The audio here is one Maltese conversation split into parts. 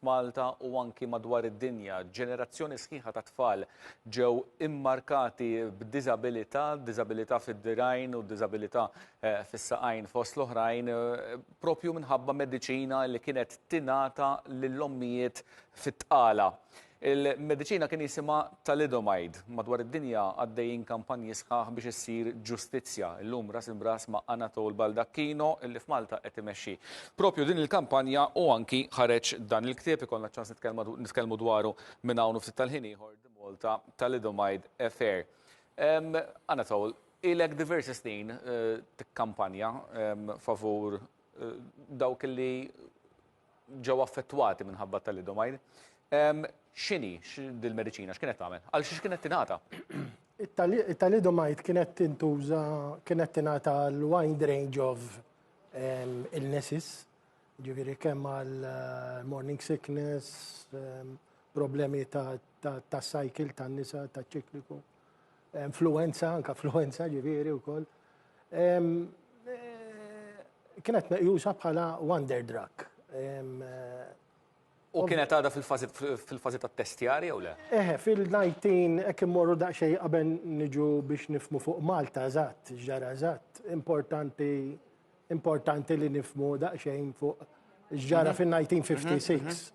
F'Malta u anki madwar id-dinja, ġenerazzjoni sħiħa ta' tfal ġew immarkati b'diżabilità, diżabilità fid-dirgħajn u diżabilità eh, fis-saqajn fost l-oħrajn, eh, propju minħabba mediċina li kienet tingħata lill-ommijiet fit-tqala. Il-mediċina kien jisimha thalidomide. Madwar id-dinja għaddejjin kampanji sħaħ biex issir ġustizzja. Illum ras imb'ras ma' Anatole Baldacchino li f'Malta qed imexxi propju din il-kampanja u anki ħareġ dan il-ktieb, ikollna ċ-ċans nitkellmu dwaru minn hawn u ftit tal-ħin ieħor, The Malta Thalidomide Affair. Anatole, ilek diversi snin tikkampanja favur dawk li ġew affettwati minħabba t-talidomide. Ehm, x'inhi dil-mediċina, x'kienet tagħmel? Għal xiex kienet tingħata? It-talidomide kienet tintuża, kienet tingħata l-wide range of ehm, illnesses, ġifieri kemm għal eh, morning sickness, ehm, problemi ta' cycle tan-nisa, ta' ċikliku. influenza, anka influenza ġifieri wkoll. Kienet meqjusa bħala wonder drug. U kienet għadha fil-fażi tat-testjar jew le? Eħe, fil-19 hekk immorru daqsxejn qabel niġu biex nifhmu fuq Malta eżatt, x'ġara eżatt. Importanti importanti li nifhmu daqsxejn fuq x'ġara fin-1956.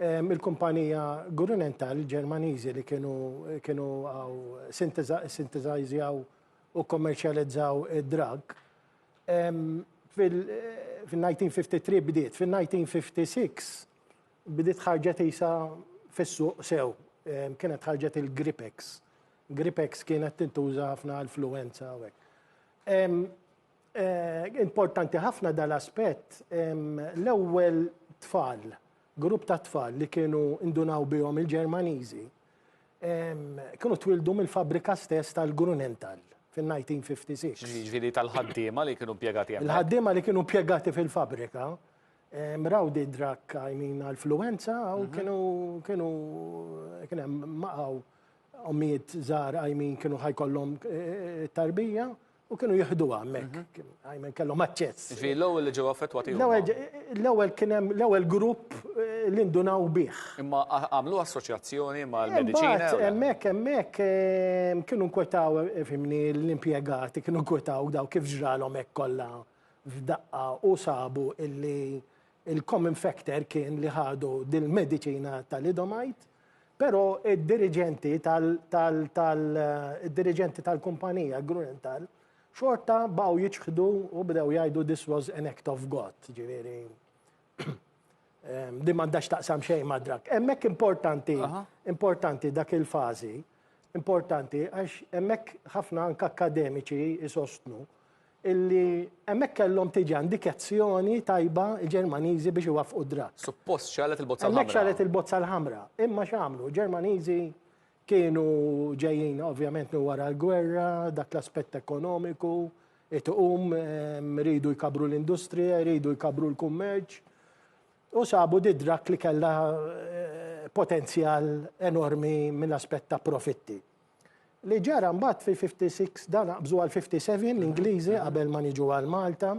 Il-kumpanija Grünenthal Ġermaniżi li kienu sintesajżjaw u kkommerċjalizzaw id-drug, fil-1953 bdiet, fil-1956 bdiet ħarġet qisha fis-suq sew, kienet ħarġet il-Gripex. Gripex kienet tintuża ħafna għall-fluwenza u hekk. Importanti ħafna dal-aspett. L-ewwel tfal, grupp ta' tfal li kienu indunaw bihom il-Ġermaniżi, kienu twildu mill-fabbrika stess tal-Grunenthal fin-1956. Jiġifieri tal-ħaddiema li kienu impjegati hemmhekk. Il-ħaddiema li kienu impjegati fil-fabbrika raw di drakk għajmin għall-fluwenza u kienu kienu kien hemm maqgħu ommijiet żgħar għajmin kienu ħajkollhom tarbija U kienu jieħduha hemmhekk, mhm. għajmen kellhom aċċess. Ġifieri l-ewwel li ġew affettwati L-ewwel kien hemm l-ewwel grupp eh, li ndunaw bih. Imma għamlu assoċjazzjoni mal-mediċina. Hemmhekk hemmhekk eh, kienu nkwetaw eh, fimni l-impjegati kienu nkwetaw daw kif ġralhom hekk kollha f'daqqa u sabu illi Il-common factor kien li ħadu dil-mediċina Thalidomide, però id-diriġenti tal-diriġenti tal-kumpanija Grunenthal xorta baqgħu jiċħdu u bdew jgħidu this was an act of God, ġifieri din m'għandhax taqsam xejn ma' drug. Hemmhekk importanti, importanti dak il-fażi, importanti għax hemmhekk ħafna anke akkademiċi jsostnu illi hemmhekk kellhom tiġi indikezzjoni tajba l-Ġermaniżi biex iwaffqu d-draw. Suppost xegħlet il-bozza l-ħamra. Hemmhekk xegħlet il-bozza l-ħamra. Imma x'għamlu? Il-Ġermaniżi kienu ġejjin ovvjament minn wara l-gwerra, dak l-aspett ekonomiku, it-tqum, iridu jkabbru l-industrija, iridu jkabbru l-kummerċ, u sabu d-draw li kellha potenzjal enormi mill-aspett ta' profitti. Li ġara mbagħad fil-56 dan aqbżu għall-57 l-Ingliżi qabel ma niġu għal Malta.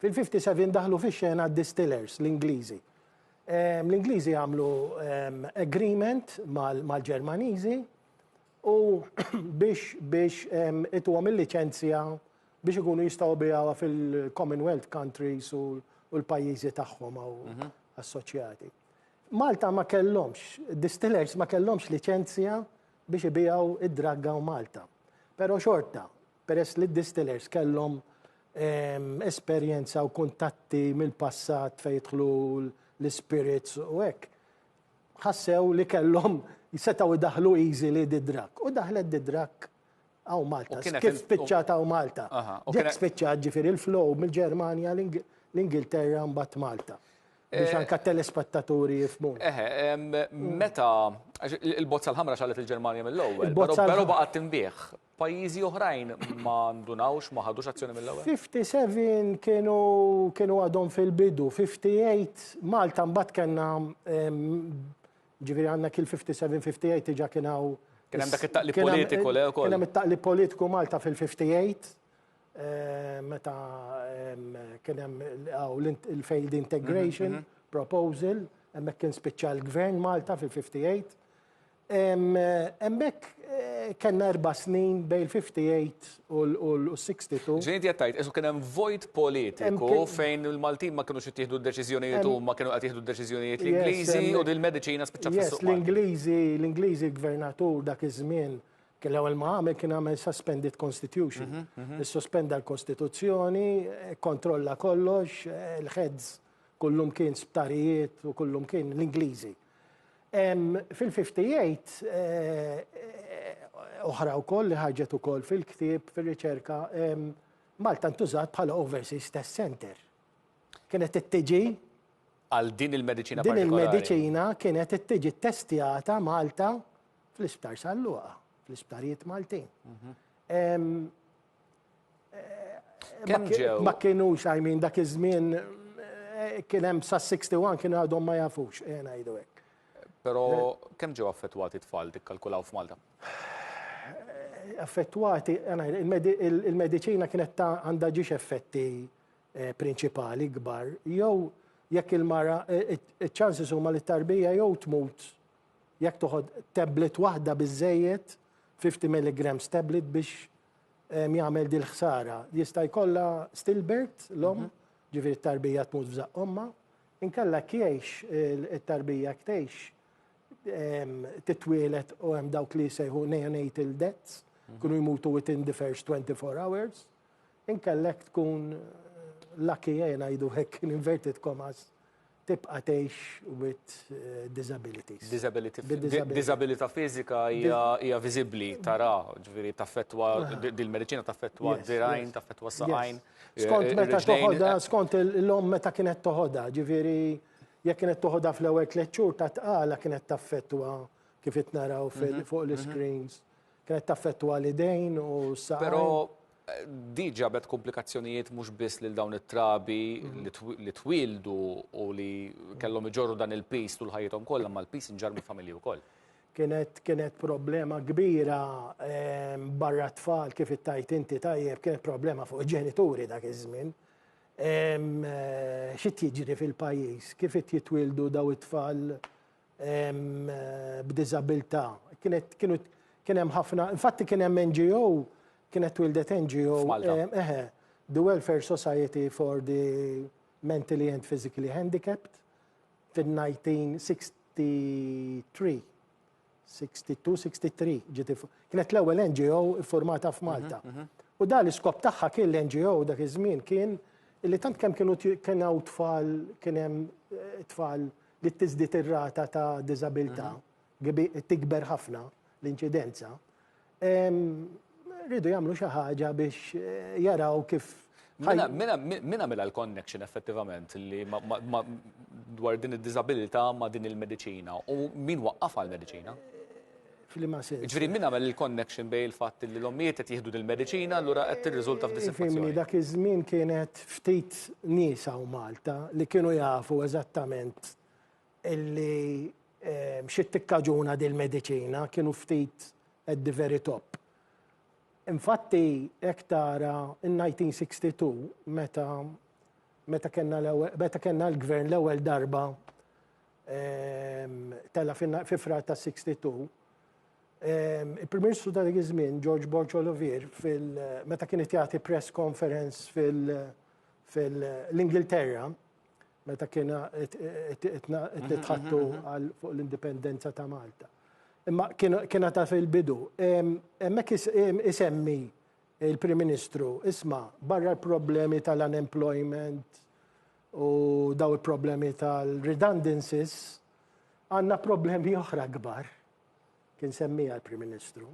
Fil-57 daħlu fix-xena d-distillers l-Ingliżi. Ehm, L-Ingliżi għamlu ehm, agreement mal- mal-Ġermaniżi u biex biex ehm, ituhom il-liċenzja biex ikunu jistgħu bijawha fil-Commonwealth countries u u l-pajjiżi tagħhom għaw assoċjati. Malta ma kellhomx, id-distillers ma kellhomx liċenzja biex ibiegħu d-dragg hawn Malta. Però xorta, peress li d-distillers kellhom esperjenza u kuntatti mill-passat fejn jidħlu l-ispirits u hekk, ħassew li kellhom, setgħu jdaħħlu easily d-dragg. U daħlet d-dragg. Aw Malta, kif spiċċat aw Malta. Jekk spiċċat ġifiri l-flow mill-Ġermanja l-Ingilterra mbatt Malta. Eh, biex anka telespettaturi jifmu. Eħe, meta, il-bozza l-ħamra xalet il-Ġermanja mill-ewwel, pero baqgħet timbieħ. Pajjiżi oħrajn ma ndunawx, ma ħadux azzjoni mill-ewwel. 57 kienu kienu għadhom fil-bidu, 58 Malta mbagħad kellna Jiġifieri għandna kil 57, 58 diġà kien hawn. Kien hemm dak it-taqlib politiku le wkoll. Kien hemm it-taqlib politiku Malta fil-58 meta kien hemm il-failed integration proposal, hemmhekk kien spiċċa l-Gvern Malta fil-58. Hemmhekk kellna erba' snin bejn il-58 u l-62. Ġifieri inti qed tgħid kieku kien hemm vojt politiku fejn il-Maltin ma kinux ittieħdu d-deċiżjonijiet huma kienu qed jieħdu d-deċiżjonijiet l-Ingliżi u din il-mediċina spiċċat fis-suq Malti. L-Ingliżi, l-Ingliżi l-gvernatur dak iż-żmien kien l-ewwel ma għamel kien għamel suspended constitution. Issospenda l-Kostituzzjoni, ikkontrolla kollox, il-heads kullum kien sptarijiet u kullum kien l-Ingliżi. Hemm fil-58 oħra wkoll li ħarġet ukoll fil-ktieb, fir-riċerka, Malta ntużat bħala overseas test center. Kienet ittiġi għal din il-mediċina partikolari. Din il-mediċina kienet ittiġi ttestjata Malta fl-Isptar Salluqa, fl-isptarijiet Maltin. Mhm. Kemm ġew? Ma kienux, I mean, dak iż-żmien eh, kien hemm sa 61 kienu għadhom ma jafux, eh, ngħidu hekk. Però kemm ġew affettwati tfal tikkalkulaw f'Malta? Eh, affettwati, il-medicina kienet ta' għandha ġiex effetti eh, prinċipali kbar, jew jekk il-mara, ċansi huma li tarbija jew tmut jekk toħod tablet waħda biżejjed 50 mg tablet biex jagħmel dil-ħsara. Jista' jkollha stillbirth l-omm, ġifieri t-tarbija tmut f'żaqq ommha, inkella jekk jgħix it-tarbija jekk tgħix titwieled u hemm dawk li jsejħu neonatal deaths, jkunu jmutu within the first 24 hours, inkella jekk tkun lucky, ejja ngħidu hekk in inverted commas, tibqa' tgħix with disabilities. Disability, Bi disability. disabilità fiżika hija hija viżibbli, tara, ġifieri taffettwa di- dil-mediċina taffettwa Yes, d-dirgħajn, yes. taffettwa s-saqajn. Yes. Skont eh, meta ir-riġlejn, toħodha, eh, skont il- l-omm meta kienet toħodha, ġifieri jekk kienet toħodha fl-ewwel tliet xhur ta' tqala kienet taffettwa kif qed naraw fil- fuq l-iscreens. Kienet taffettwa l-idejn u s-saqajn. Però Di ġabet kumplikazzjonijiet mhux biss lil dawn it-trabi li twieldu u li kellhom iġorru dan il-piż tul ħajjithom kollha, imma l-piż inġarr mill-familji wkoll. Kienet kienet problema kbira barra t-tfal kif ittajt inti tajjeb, kienet problema fuq il-ġenituri dak iż-żmien. Xi qed jiġri fil-pajjiż, kif qed jitwieldu dawn it-tfal b'diżabilità. Kienet kienu kien hemm ħafna, infatti kien hemm NGO, kienet twildet NGO, eħe, The Welfare Society for the Mentally and Physically Handicapped fil-1963. 62-63 ġiti. Kienet l-ewwel NGO formata f'Malta. Mhm, mhm. U da l-iskop tagħha kien l-NGO dak iż-żmien kien li tant kemm kienu kien hawn tfal kien hemm eh, tfal li tiżdied ir-rata ta' diżabilità, tikber ħafna l-inċidenza, rridu jagħmlu xi ħaġa biex jaraw kif Mela, mela, mela, mela l-connection effettivament li dwar din id-disabilità ma' din il-medicina u min waqqaf għal-medicina? F'liema sens? Jiġifieri min għamel il-connection bejn il-fatt li l-ommijiet qed jieħdu dil-mediċina allura qed tirriżulta f'dissatisfazzjoni? Fimni, dak iż-żmien kienet ftit nies hawn Malta li kienu jafu eżattament illi xi tikkaġuna dil-mediċina, kienu ftit at the very top. Infatti hekk tara n-1962 meta meta kellna l-ewwel meta kellna l-gvern l-ewwel darba tela' fi Frar ta' 62. Il-Prim Ministru ta' dik iż-żmien, George Borg Olivier, meta kien qed jagħti press conference fil-Ingilterra, meta kien qed nitħattu fuq l-indipendenza ta' Malta. Imma kien għadha fil-bidu. Hemmhekk isemmi l-Prim Ministru, isma' barra l-problemi tal-unemployment, u daw il-problemi tal-redundancies, għandna problemi oħra kbar. Kien semmija l-Prim Ministru.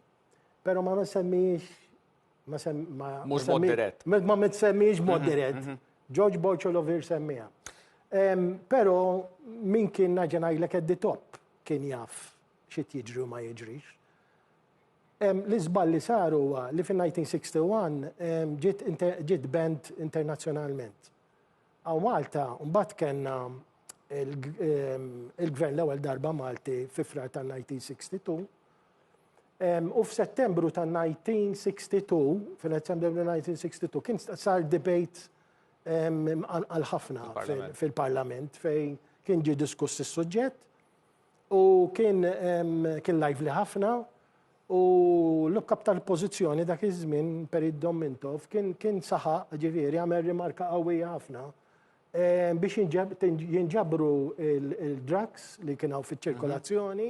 Pero ma semmijiex ma semmijiex ma semmijiex mod dirett. George Borcholovir semmija. Pero min kien naġenaj l keddi top kien jaf xit jiġri u ma jiġrix. L-izbal li saru li fin-1961 ġit band internazjonalment. Hawn Malta mbagħad kellna il-Gvern l-ewwel darba Malti fi Frar tan-1962. U f'Settembru tan-1962, fil-Settembru 1962, kien sar debate għal ħafna fil-Parlament fejn kien ġie diskuss is-suġġett u kien lively ħafna U l-kap tal-pożizzjoni dak iż-żmien, Perit Dommintov, kien saħaq, ġifieri għamel rimarka qawwija ħafna, biex jinġabru l-drugs li kien hawn fiċ-ċirkolazzjoni,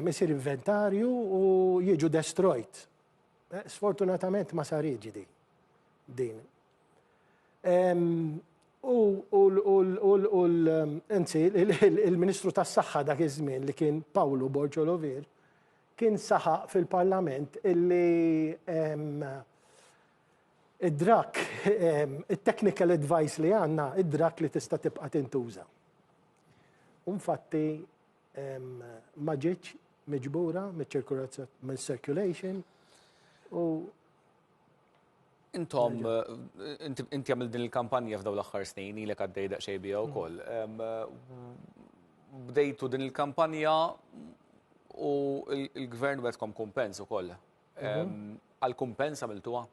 isir inventarju u jiġu destroyed. Sfortunatament ma saritx din. U anzi, il-Ministru tas-Saħħa dak iż-żmien li kien Pawlu Borġo Lovir kien saħaq fil-Parlament illi id-drak, it-technical advice li għandna, id-drak li tista' tibqa' tintuża. U infatti ma ġietx miġbura miċ-ċirkolazzjoni, mill-circulation u. Intom, inti għamil din il-kampanja f'daw l-axħar snin, ilek għaddej daqxej bija u koll. Bdejtu din il-kampanja u il-gvern għedkom kumpens u koll. Mhm. Għal-kumpens għamiltuwa?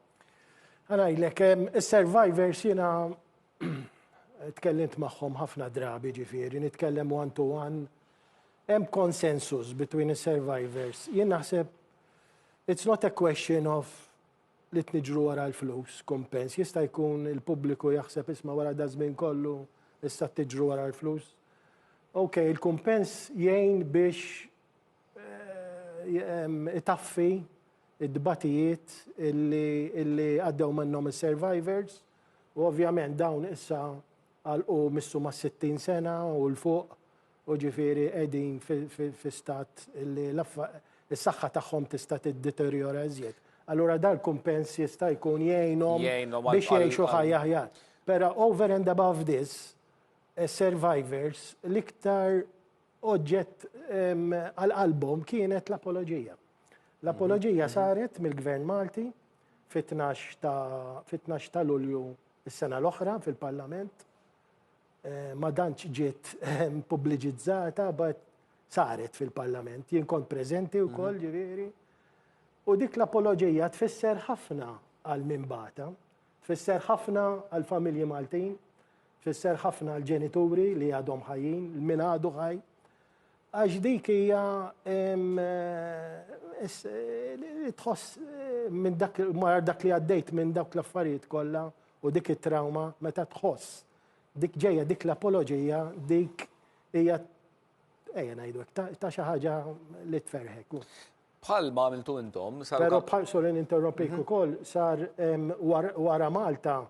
Għana ilek, il-survivors jina tkellimt maħħom ħafna drabi ġifiri, nitkellem one to one. Hemm konsensus between il-survivors. Jien naħseb It's not a question of li tniġru wara l-flus, kumpens. Jista' jkun il-pubbliku jaħseb isma' wara da żmien kollu issa tiġru wara l-flus. Ok, il-kumpens jgħin biex eh, itaffi id-dbatijiet illi għaddew minnhom is-survivors u ovvjament dawn issa għalqu missu ma' 60 sena u l-fuq u ġifieri qegħdin fi stat li s-saħħa tagħhom tista' tiddeterjora iżjed. Allura dan il-kumpens jista' jkun jgħinhom biex jgħixu ħajja aħjar. Però over and above this, is-survivors l-iktar oġġett għal qalbhom kienet l-apoloġija. L-apoloġija saret mill-Gvern Malti fit-12 ta' Lulju s-sena l-oħra fil-Parlament ma dantx ġiet pubbliġizzata, but saret fil-Parlament. Jien kont preżenti wkoll, mhm. ġifieri. U dik l-apoloġija tfisser ħafna għal min bata, tfisser ħafna għal familji Maltin, tfisser ħafna għal ġenituri li għadhom ħajjin, min għadu ħaj. Għax dik hija eh, eh, tħoss eh, minn dak li għaddejt minn dak l-affarijiet kollha u dik it-trauma meta tħoss Dik ġejja, dik l-apoloġija, dik hija ejja ngħidu hekk, ta' xi ħaġa li tferħek. Bħal ma għamiltu intom, sar. Però bħal sorry ninterrompik mhm. ukoll sar wara Malta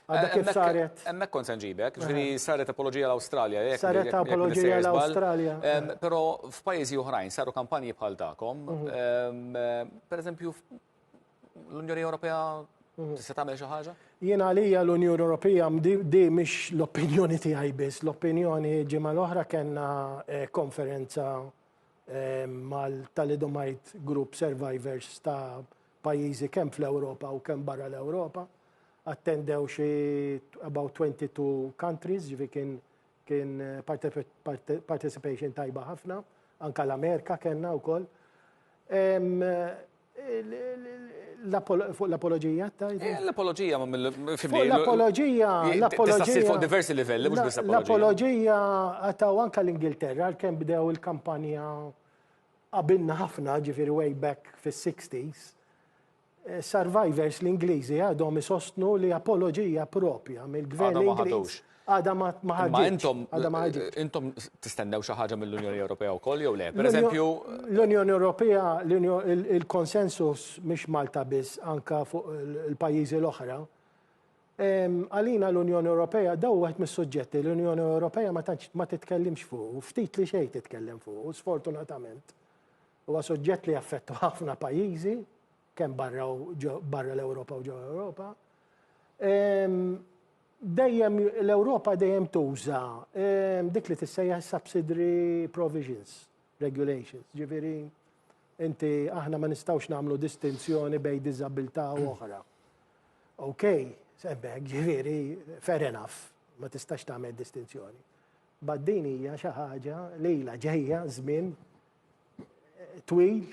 Għadda eh, kif saret. Emmek kont sanġibek, ġviri saret apologija l-Australia. Saret apologija l-Australia. Pero f'pajizi uħrajn saru kampanji bħal ta'kom. Mhm. Per eżempju, L-Unjoni Ewropea mhm. tista' tagħmel xi ħaġa? Jien għalija l-Unjoni Ewropea di mhix l-opinjoni tiegħi biss, l-opinjoni ġimgħa l-oħra kellna eh, konferenza eh, mal-Talidomite Group Survivors ta' pajjiżi kemm fl-Ewropa u kemm barra l-Ewropa. Attendew xi about 22 countries, ġifi kien kien eh, participation tajba ħafna, anka l-Amerika kellna wkoll. Fuq l-apoloġija tajt? Eh, l-apoloġija ma mill Fuq l-apoloġija, l-apoloġija. fuq diversi livelli, mhux biss l-apoloġija. L-apoloġija għataw anka l-Ingilterra, kemm bdew il-kampanja qabilna ħafna, ġifieri way back fis-60s. Eh, survivors l-Ingliżi għadhom isostnu li apoloġija propja mill-gvern Ingliż. Għada ma ħarġitx. Għada ma ħarġitx. Intom tistennew xi ħaġa mill-Unjoni Ewropea wkoll jew le? Pereżempju. L-Unjoni Ewropea, il-konsensus mhix Malta biss, anka fuq il-pajjiżi l-oħra. Għalina l-Unjoni Ewropea, daw wieħed mis-suġġetti l-Unjoni Ewropea ma tantx ma titkellimx fuq, ftit li xejn titkellem fuq, sfortunatament. Huwa suġġett li jaffettwa ħafna pajjiżi, kemm barra l-Ewropa u ġewwa l-Ewropa. Dejjem l-Ewropa dejjem tuża dik li tissejjaħ subsidiary provisions, regulations, ġifieri inti aħna ma nistgħux nagħmlu distinzjoni bejn diżabilità u oħra. OK, semmek, ġifieri fair enough, ma tistax tagħmel distinzjoni. Bad din hija xi ħaġa li ilha ġejja żmien eh, twil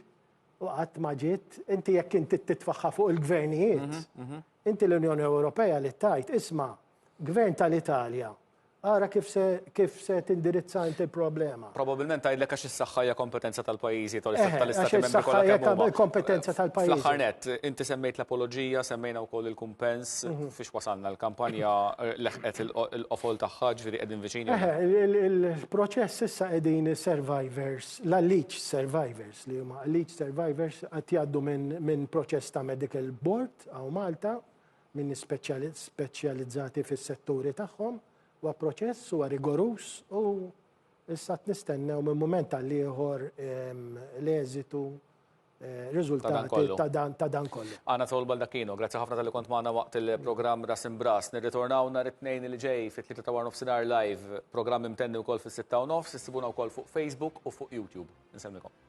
u qatt ma ġiet, inti jekk inti titfaħħa fuq il-gvernijiet, mhm, mhm. Inti l-Unjoni Ewropea li tgħid, isma', Gvern tal-Italja, ara kif se kif se tindirizza inti l-problema. Probabbilment tgħidlek għax is-saħħa hija kompetenza tal-pajjiżi jew Eħe, tal-Istati għax Membri is-saħħa kollha hija kemm huma. kompetenza Fl-aħħar tal-pajjiżi. nett, inti semmejt l-apoloġija, semmejna wkoll il-kumpens, fiex wasalna? Il-kampanja leħqet il-qofol tagħha, jiġifieri qegħdin viċin jew le? Eħe, il-proċess issa qegħdin is-survivors, l-alleged survivors li huma alleged survivors qed jgħaddu minn minn proċess ta' medical board, Tqaw Malta, minn nies speċjalizzati fis-setturi tagħhom, huwa proċess, huwa rigoruż u issa qed nistennew minn mument għal ieħor l-eżitu, riżultati ta' dan kollu. Anatol Baldacchino, grazzi ħafna talli kont magħna waqt il-programm Ras Imb'Ras. Nirritornaw nhar it-Tnejn li ġej fit-tlieta ta' warnofsinhar live, programm imtenni wkoll fis-sitta u nofs, issibuna wkoll fuq Facebook u fuq YouTube. Insellmikom.